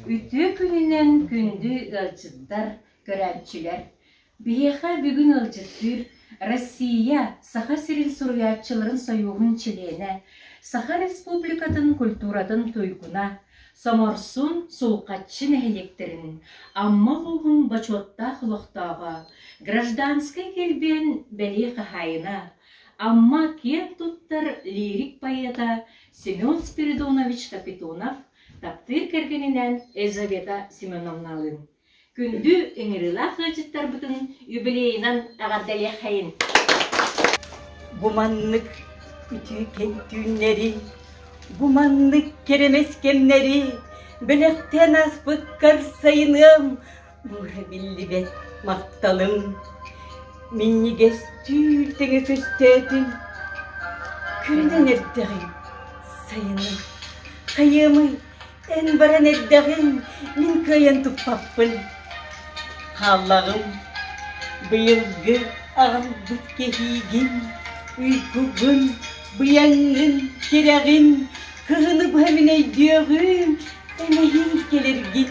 Үтүө күнүнэн күндү ыалдьыттар, көрөөччүлэр! Биһиэхэ бүгүн ыалдьыттыыр Россия, Саха сирин суруйааччыларын сойууһун чилиэнэ, Саха Республикатын культуратын туйгуна, Соморсун, Сулҕаччы нэһилиэктэрин Амма улууһун бочуоттаах олохтооҕо, гражданскай килбиэн бэлиэ хаһаайына, Амма киэн туттар лирик поэта Семен Спиридонович Капитонов таптыыр кэргэнинээн Елизавета Семеновналыын күндү ыҥырыылаах ыалдьыттарбытын юбилейынан эҕэрдэлиэххэйин! Бу маннык үтүө түүннэри, бу маннык кэрэмэс кэмнэри бэлэхтээн ааспыккар сайыныам Быһа биллибэт махталым минньигэстүүр тэҥэ көстөөтүн Күлүнэн эрдэҕиҥ, сайыным, хайыамый, эн баран эрдэҕиҥ мин кыайан туппаппын. Хааллаҕым быйылгы аҕалбыт кэһиигин, уйгугун, быйаҥҥын, тирэҕин, кыһыны быһа мин өйдүөҕүм, эмэһиин кэлэргин.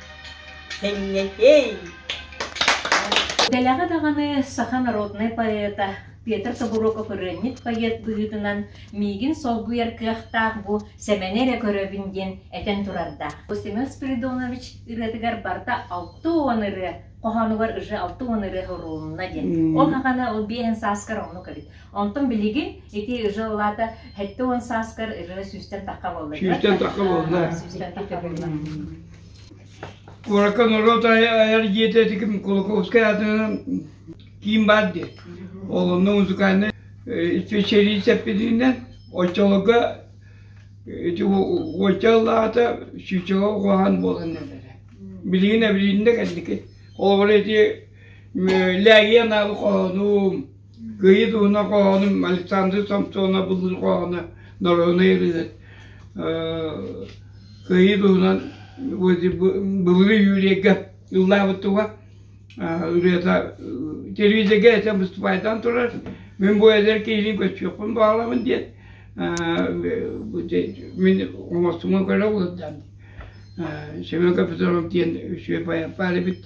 Тэҥҥэтэй! Дэлэҕэ даҕаны саха народнай поэта Петр Тобуруокап-ырыанньыт поэт быһыытынан миигин солбуйар кыахтаах бу Сэмэни эрэ көрөбүн диэн этэн турардаах. Бу Семен Спиридонович ырыатыгар барыта алта уон ырыа, хоһоонугар уже алта уон ырыа уруолунна диэн. Ол хахана ол биэһин сааскар оннук эбит. Онтон билигин ити уже улаата сэттэ уон сааскар ырыа сүүстэн тахха буолла. Сүүстэн тахха буолла. Сүүстэн тахха буолла. Куоракка норуот айар дьиэтэ этиким Кулаковскай аатынан киин баар диye. Олонно музыкальнай исписэлиис эппитинэн оччолорго ити оччол аата сүүччэҕэ ухаан буолан этэрэ. Билигин эбилиннэ кэнники. Олоҕор эти лээги анаабы хоһонум Кыайыы туһунан хоһоонум Александр Самсонов булбут хоһооно норуонай ырыа кыайыы туһунан былыргы үөрүйэккэ ыллаабыттыга ырыата телевизорга этэн выступаайдаан турар мин бу эдэр киһини көстүөхпүн баҕаламын диэн мин оҥостумун көрө олордон Семен Капитонов диэн үсүө поэт баар эбит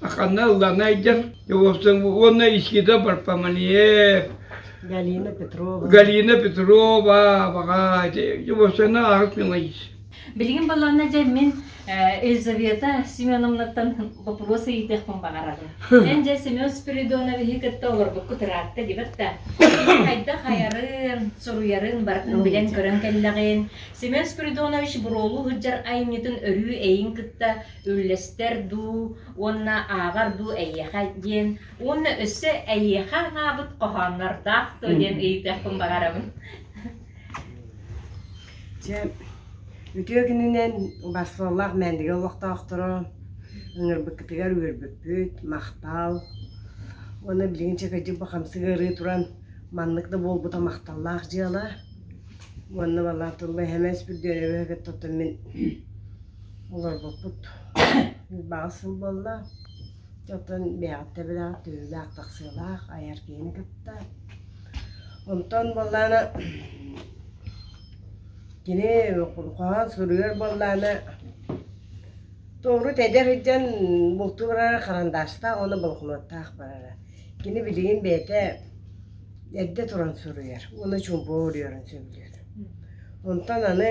Ханна ыллана айдар уонна искита барпаманье Галина Петрова. Галина Петрова баҕа Жубовсена аарыс мимаис. Билигин баланна же мен Елизавета Семеновнаттан вопрос ыйытыахпын баҕарабын. Мен же Семен Спиридоновиһы кытта олорбукку тыраатта дибатта. Хайдах айарын, суруйарын барытын билэн көрөн кэллэҕин. Семен Спиридонович буруолу ыһыджар айымньытын өрүү эйин кытта үллэстэр дуу уонна ааҕар дуу эйиэхэ диэн уонна өссө эйиэхэ анаабыт хоһооннордоох дуо диэн ыйытыахпын баҕарабын Дьэ, үтүө күнүнэн Барселоналаах мээндиги олохтоохторо ыҥырбыккытыгар үөрбүппүт махтал уонна билигин чэкэдьик бахамсык ыарыы туран маннык да буолбута махталлаах дьыала уонна балаан туруга эһэмэс бүрдүөнэбэ кытта мин Олорбуппут баҕа сыл буолла. Оттон бэйэҕит төбөлөөх түүлээх тахсыылаах айар киһини кытта. Онтон буоллаана кини хоһоон суруйар буоллаана тоҕуру тэдэ сылдьан бултуу барара харандаастаах уонна болокуонаттаах барара. Кини билигин бэйэтэ эрдэ туран суруйар уонна чуумпу уруйарын сөбүлүүр. Онтон аны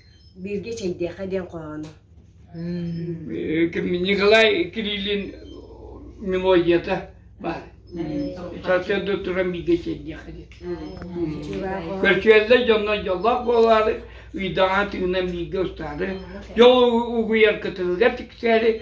Бииргэ чэйдиэхэ диэн хоһооно. Николай Кириллин мелодията бар. Сатыырда туран бииргэ чэйдиэхэ диэн. Көрсүөллэр дьонно дьоллоох буолаары, ыйдаҕа тыынан бииргэ устаары, дьол угуйар кытылыгар тиксээри,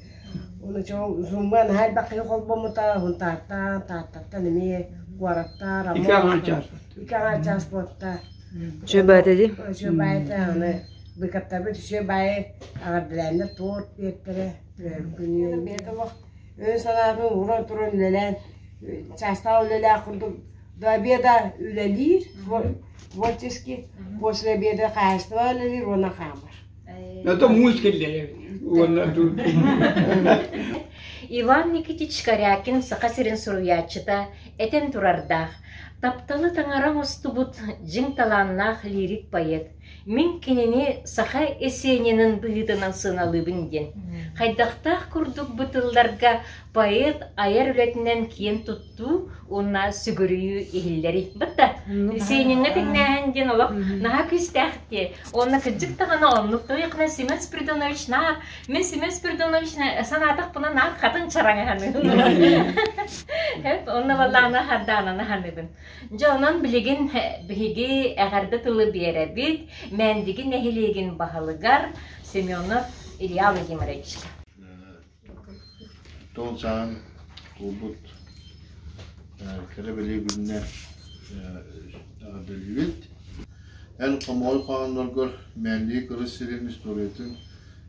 Ону чоң Зумба наһаа элбэххэ холбоммута уһун Тааттан, Тааттаттан эмиэ куораттар, Амур. Икки аҥаар чаас. Икки аҥаар чаас буолта. Чөбөөтө дии. Үчүө баайата аны быыкаттарбыт үчүө баайы аҕардылааннар туорт биэртэрэ күнү бэйт олох өн санаатын уран туран үлэлээн чаастаах үлэлээх курдук до обеда үлэлиир творчески после обеда хаһаайыстыба үлэлиир уонна хаамар Это мусь киллеев уонна Иван Никитич Корякин Саха сирин суруйааччыта этэн турардаах тапталы таҥара оҥостубут дьиҥ талааннаах лирик-поэт мин кинини саха эсенинин быһыытынан сыаналыыбын диэн хайдахтаах курдук бу тылларга поэт айар үлэтинэн киэн тустуу уонна сүгүрүйүү иһиллэри бытта синиҥҥэ тиҥнээһин диэн олох наһаа күүстээх дии уонна кырдьык даҕаны оннук туйахна семец придоночнаар мен семец придоночна санаатахпына наар хатын чараҥаһаныын эп онно балаана хардаананы ханыгын дьэ онон билигин биһиги эҕэрдэ тылы биэрэбит мээндиги нэһилиэгин баһылыгар семенов илья владимировичка Тоҕо сааһын туолбут кэрэ-бэлиэ күннэ эҕэрдэлиибит. Эн хомоҕой хоһоонноргор мээндии кырыс сирин историятын,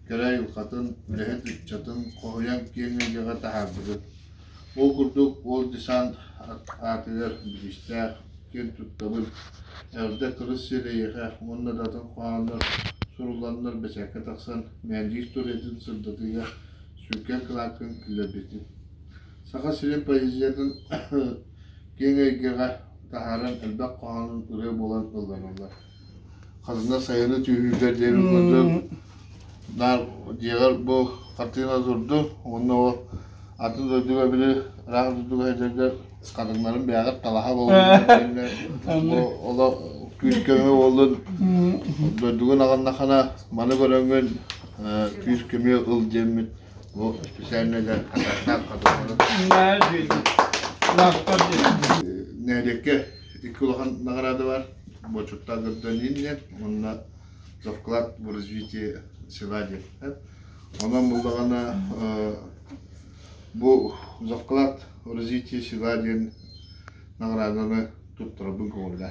кэрэ айылҕатын, үлэһит ыччатын хоһуйан киэҥ эйгэҕэ таһаардыгыт. Ол курдук, ол десант аатыгар бириистээх, киэн туттабын, эрдэ кырыс сир эйиэхэ уонна да атын хоһооннор сурулланнар бэчээккэ тахсан мээндиир туруйатын сырдатыыга сүҥкэн кылааккын киллэрбитим. Саха сирин поэзиятын киэҥ эйгэҕэ таһааран элбэх хоһоонун ырыа буолан ыллараллар Хатана сайыны түһүүгэ диэн мындыр наар дьиэҕэр бу хартыына турду уонна ол атын дойдуга били ыраах дойдуга сылдьарга хатаҥнарын бэйэҕэр талаһа буоллун оло күүс-көмө буоллун дойдугун аҕыннахана маны көрөҥҥүн күүс-көмө ыл диэммит бу специальнай да хатаҥнаах хатаҥнары нэһилиэккэ Икки улахан наҕараада бар. Бочуттаах гражданин диэн, уонна вклад в развитие села диэн. Онон булдаҕына бу вклад в развитие села диэн наҕарааданы туттарабын көҕүллэ.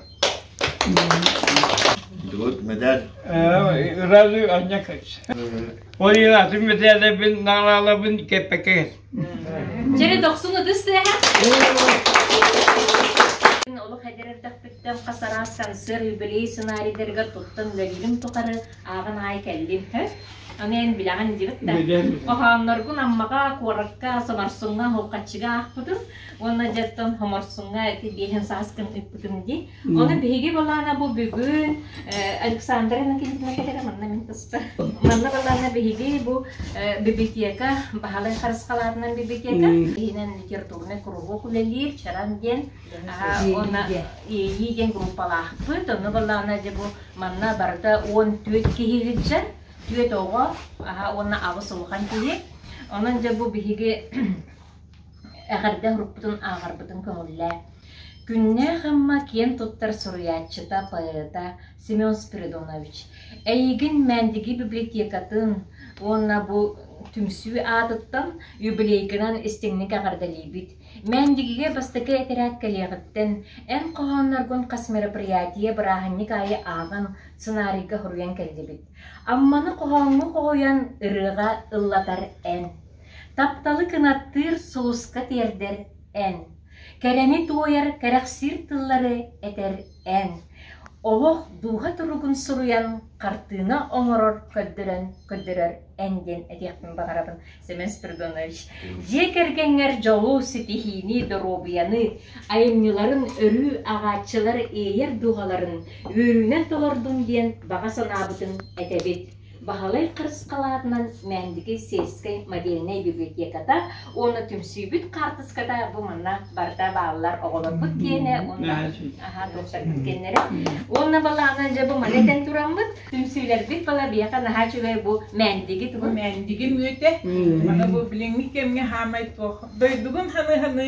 Дылыт медаль. Разы аннякач. Ой, атын медалябын, наҕаралабын кеппекет. Дьэ, дохсун ытыс тыаһа. Олох эдэр эрдэхпиттэн хас араас сансыар юбилей сценарийдарыгар туттан үлэлиирим тухары ааҕан аайы кэллим. Һө? Аны эн билэҕин диэбит да. Хоһоонноргун Аммаҕа, куоракка, Соморсуҥҥа, Һуоххаччыга аахпытым. Уонна дьаттан Хоморсуҥҥа ити биэһин сааскын ыппытым дии. Оны биһиги балаана бу бүгүн Александра Анакеевна кэтэрэ манна мин тыста. Манна балаана биһиги бу библиотека баһалай харысхалаатынан библиотека иһинэн литературный куруһуок үлэлиир Чаран диэн уонна ИИ диэн группалаахпыт. Онно балаана же бу манна барыта 14 киһи илдьэн, түөт оҕо уонна аҕыс улахан киһи. Онон же бу биһиги Эҕэрдэ уруккутун ааҕарбытын көҥүллээ. Күннээх Амма киэн туттар суруйааччыта, поэта Семен Спиридонович, эйигин Мээндиги библиотекатын уонна бу түмсүү аатыттан юбилейгынан истиҥник эҕэрдэлиибит. Мээндигигэ бастакы этэрээт кэлиэҕиттэн эн хоһоонноргун хас мероприятие бырааһынньык аайы ааҕан, сценарийга хоруйан кэллибит. Амманы хоһооҥҥо хоһуйан ырыаҕа ыллатар эн Тапталы кынаттыыр сулуска тиэрдэр эн, Кэрэни туойар кэрэхсиир тыллары этэр эн, Олох дууһа туругун суруйан хартыына оҥорор көрдөрөн көрдөрөр эн диэн этиэхпин баҕарабын, Семен Спиридонович. Дьиэ кэргэҥҥэр дьолу, ситиһиини, доруобуйаны, айымньыларын өрүү ааҕааччылар иэйэр дууһаларын үөрүүнэн толордум диэн баҕа санаабытын этэбит. Баһылай харысхалаатынан Мээндиги сельскэй мобильнай библиотеката уонна түмсүүбүт хаартыската бу манна барыта бааллар оҕолорбут киэнэ уонна аhaa туохтарбыт киэннэрэ уонна балаҕанын дьэ бу маны этэн тураммыт түмсүүлэрбит бала биэхэ наһаа үчүгэй бу Мээндиги бу тугун Мээндиги мүөтэ. Мана бу билиҥҥи кэмҥэ хаамай туох дойдугун ханы-ханы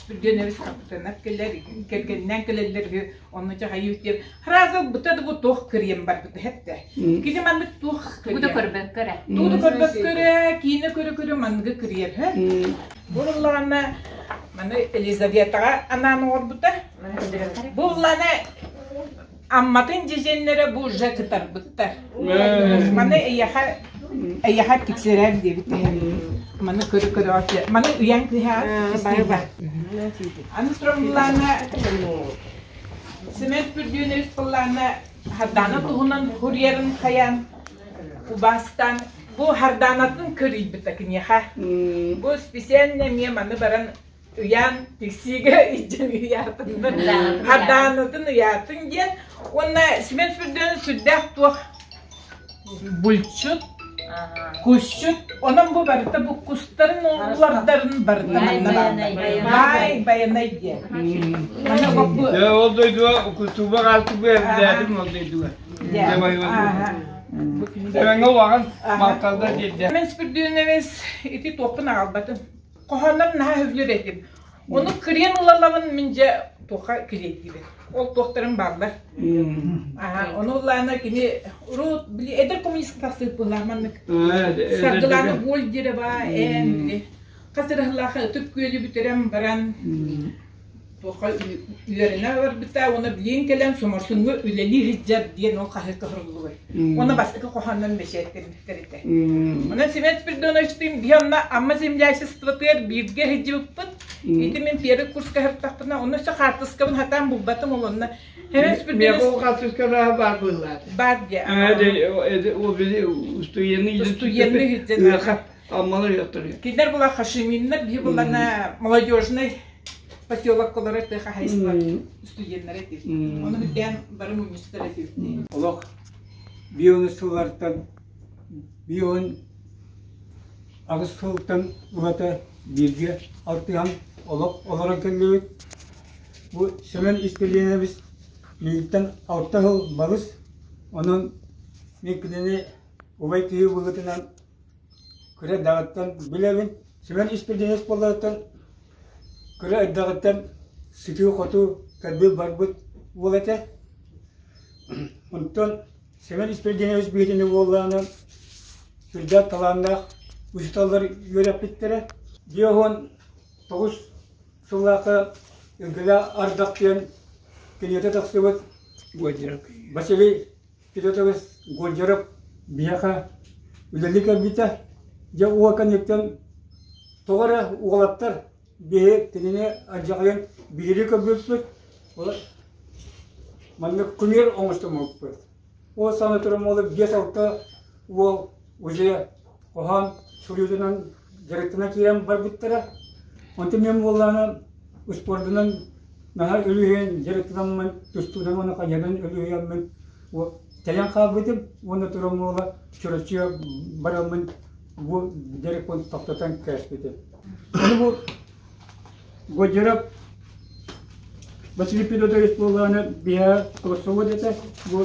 Спирденэбис капитанат кэлэр, кэргэннээн кэлэллэр үһү, онно дьаһайыыт диэн, хараазыл быта да бу туох кырыйан барбыта эттэ. Кини маннык туох Тугу да көрбөккө эрэ. Тууду көрбөккө эрэ, киинэ көрө-көрө манныгы кырыйар үһү. Буллаҕына, маны Елизаветаҕа анаан оҥорбута. Буллаҕына Амматын дьэдьэннэрэ бу уже кытарбыттар. Маны эйэхэ эйэхэ тиксэрэр диэбит Маны көрө-көрө маны үйэн кыһа баба. Аны тромблана Семен Пүрдүөнэбис быллана хардана туһунан курьерын хаян убастан бу харданатын көрүйбүтэ киниэхэ. Бу специально мне маны баран ыйаан тиксиигэ иччим ыйаатыннын хардаанытын ыйаатын диэн уонна Семен Сүрдүөн сүрдээх туох булчут кусчут онон бу барыта буккустарын улардарын барыта бай байанай диэн ол дойдуга кутуба алты бээрдээдим ол дойдуга Сэмэҥэ улаҕан малталда диэрдэ. Мен Спирдиновец ити туохпун аҕалбатым. хоһооннорум наһаа үһүлүүр этим. Ону кириэн ылалабын мин дьэ туохха кириэтиибин. Ол туохтарым бааллар. Аха, ону ыллаана кини урут били эдэр коммунистка сыыппылаах маннык. Саргылаана боль дире ба эн били. Хасырыһылаха ытык күөлү бүтэрем баран туохха үөрэнэ барбыта уонна билиэн кэлэн соморсуҥҥа үлэлии сылдьар диэн ол хаһыакка соругуллубут. Уонна бастакы хоһооннон бэчээттэммиттэр этэ. Онон Семен Спиридоновичтыын биһи онно Амма землячествотыгар бииргэ сылдьыбыппыт. Ити мин первый курска сырыттахпына, онно все хаартыскабын хатаан булбатым ол онно. Семен Спиридонович... Мегул хаартыскараҕа бар быыллаата. Бар диэ. Устуенный Аммалар yottırıyor. Кинилэр булар хашиминнер, биһи булана молодежный Поселокалары ты хозяйство студеннары ти. Ону бүтэн бары мунньустара ти. Олох бион сыллартан бион аҕыс сылтан урата бииргэ алтыһан олох олорон кэллибит. Бу Семен Истелинович миигиттэн алта сыл балыс, онон мин кинини убай киһи быһыытынан кыра эрдэҕиттэн билэбин сүгэн испирдиэс буоларыттан кыра эрдэҕиттэн сытыы-хотуу көрбүт барбыт уол этэ онтон Сэмэн Испирдиэнович быһыытынан уоллаанан сүрдээх талааннаах учууталлар үөрэппиттэрэ дьиэ уһун тоҕус сыллаахы Өҥкүлэ ардах диэн киниэтэ тахсыбыт Василий Ити тылы Гончаров биһиэхэ үлэлии кэлбитэ. Дьэ уол кэнниттэн тоҕо эрэ уолаттар биһи кинини алдьархайын биһирии көрбүппүт. Ол маннык кумир оҥостоммуппут. Ол саҥа туран уолу биэс алта уол уже хоһоон суруйуутунан дьарыктана киирэн барбыттара. Онтон мен буоллаана успуордунан наһаа өлүһэн дьарыктанаммын тустуунан уонна хайанан өлүһүйэммин тайан хаалбытым уонна турамуола чөрөчү бараммын бу дьарыкпын тохтотон кээспитим. Ону бу Годжеров Василий Федотович буоллаана биһэ Кроссовод этэ бу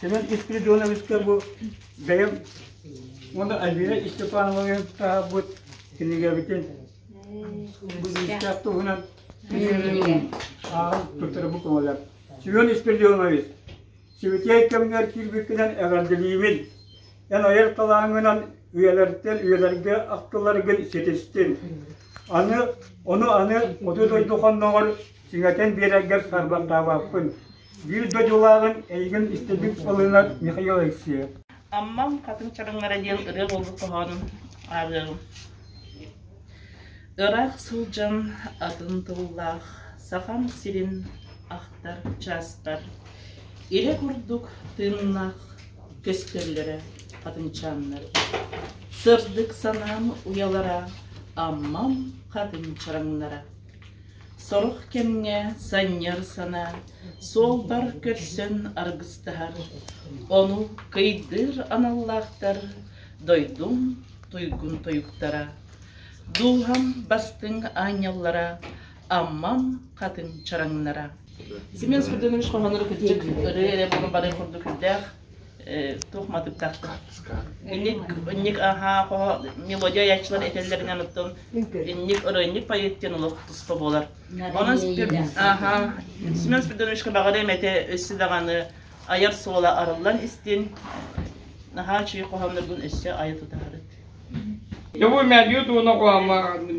Семен Спиридоновичка бу бэйэм уонна Альбина Степановнаҕа таһаарбыт кинигэбитин бу истээх туһунан ааҕан туттарбы көмөлөр. Семен Спиридонович, сибитиэй кэмигэр кирбиккинэн эҕэрдэлиибин. Эн айар талааҥҥынан үйэлэртэн үйэлэргэ ахтыларгын ситистин. Аны, ону аны оту дойду хонноҕор сиҥэтэн биэрэргэр сарбаттаабаппын. Биир дойдулааҕын эйигин истэрдик ылынар Михаил Алексеев Аммам Хатыҥ Чараҥара диэн ырыа буолбут хоһоонун ааҕыаҕым. Ыраах сылдьан атын тыллаах Сахам сирин ахтар чааспар Ирэ курдук тыыннаах көстөллөрө хатыҥчааннар Сырдык санаам уйалара Аммам хатыҥ чараҥнара Сорох кэмҥэ санньар санаа, суолбар көрсөн аргыстаһар, ону кыйдыыр аналлаахтар дойдум туйгун туйгуттара. Дууһам бастыҥ аанньаллара, Аммам хатыҥ чараҥнара. Семен Спиридонович хоһоонноро кырдьык ырыа эрэ бары курдук үрдээх. туох матыктахтар инник аhaa хо мелодия яйчылар этэллэринэн оттон инник ырыынньык поеттен олох туспа буолар онон аха семен спиридоновичка баҕарыам этэ өссө даҕаны айар суола арыллан истин наһаа чүй хоһоонноргун өссө айа тутаарыт Любой мәрдиет оны қоғамға армын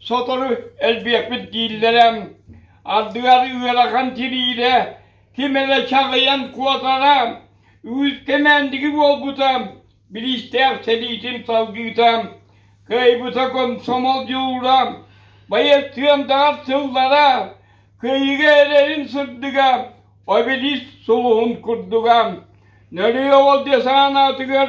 Сотору элбиэхпит дииллэрэ, ардыгар ыарахан тириирэ, ким эрэ чаҕыйан куотара, үүт кэмээндиги буолбута, бириистээх сэриитин салгыыта, кыайбыта комсомол дьулуура, байыастыандаҕар сыллара, кыайыыга эрэрин сырдыга, обелиск сулуһун курдуга. Нөрүй оҕол дьэ санаатыгар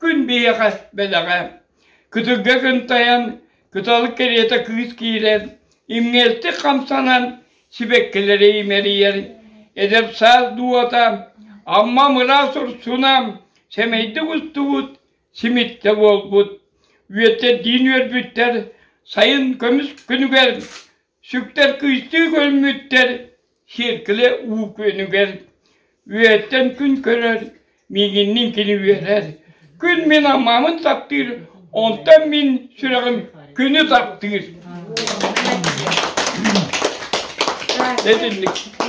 Күн биһиэхэ бэлэҕэ. Кытылга кынтайан, кытал кэриэтэ кыыс киирэн, имҥээстик хамсанан, сибэккилэри имэрийэр, эдэр саас дууһата, аммам ыраас урсуна, сэмэйдик устубут, симиттэ буолбут. Үөтэрдиин үөрбүттэр, сайын көмүс күнүгэр Сүктэр кыстыы көрмүттэр сиэркилэ уу күөнүгэр үөттэн күн көрөр, миигинниин кини үөрэр. Күн мин аммамын таптыыр, онтон мин сүрэҕим күнү таптыыр. Итинник.